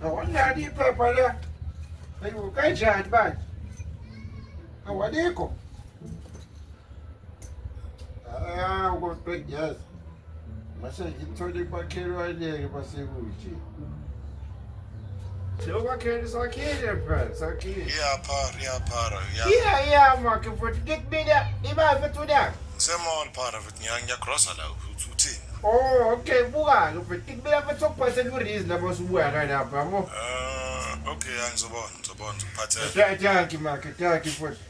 Awanani iphepha la. Ayiwo kanjani manje? Awalikho. Ah, uko 20 years. Mase ngithole kwakhelwane-ke basekude. Lokwakhela sakhile mfana, sakhile. Iyaphara, iyaphara, iya. Iya iya makhe futhi ngikubile imali futhi unyaka. Ngisemall phara futhi ngiya ngiyagrosa la ukuthi uthini. Oh okay buka-ke futhi ngikubile futhi okuphathela urizi lapho usubuya kanapha yabo. Ah, okay, angizobona, ngizobona, ngizophathela. Danki makhe, danki futhi.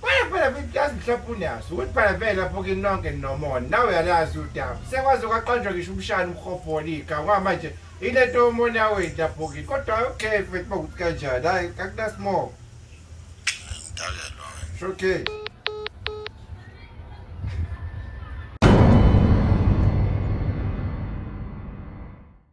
Kwaye phela futhi yazi mhlawumbe unaso ukuthi phela vele lapho kini nonke ninomona nawe uyalazi udaba sekwaze kwaqanjwa ngisho umshana umhobho wolika ngoba manje ile nto yomona yaweni lapho kini kodwa okay futhi uma kuthi kanjani hhayi akunasimoko okay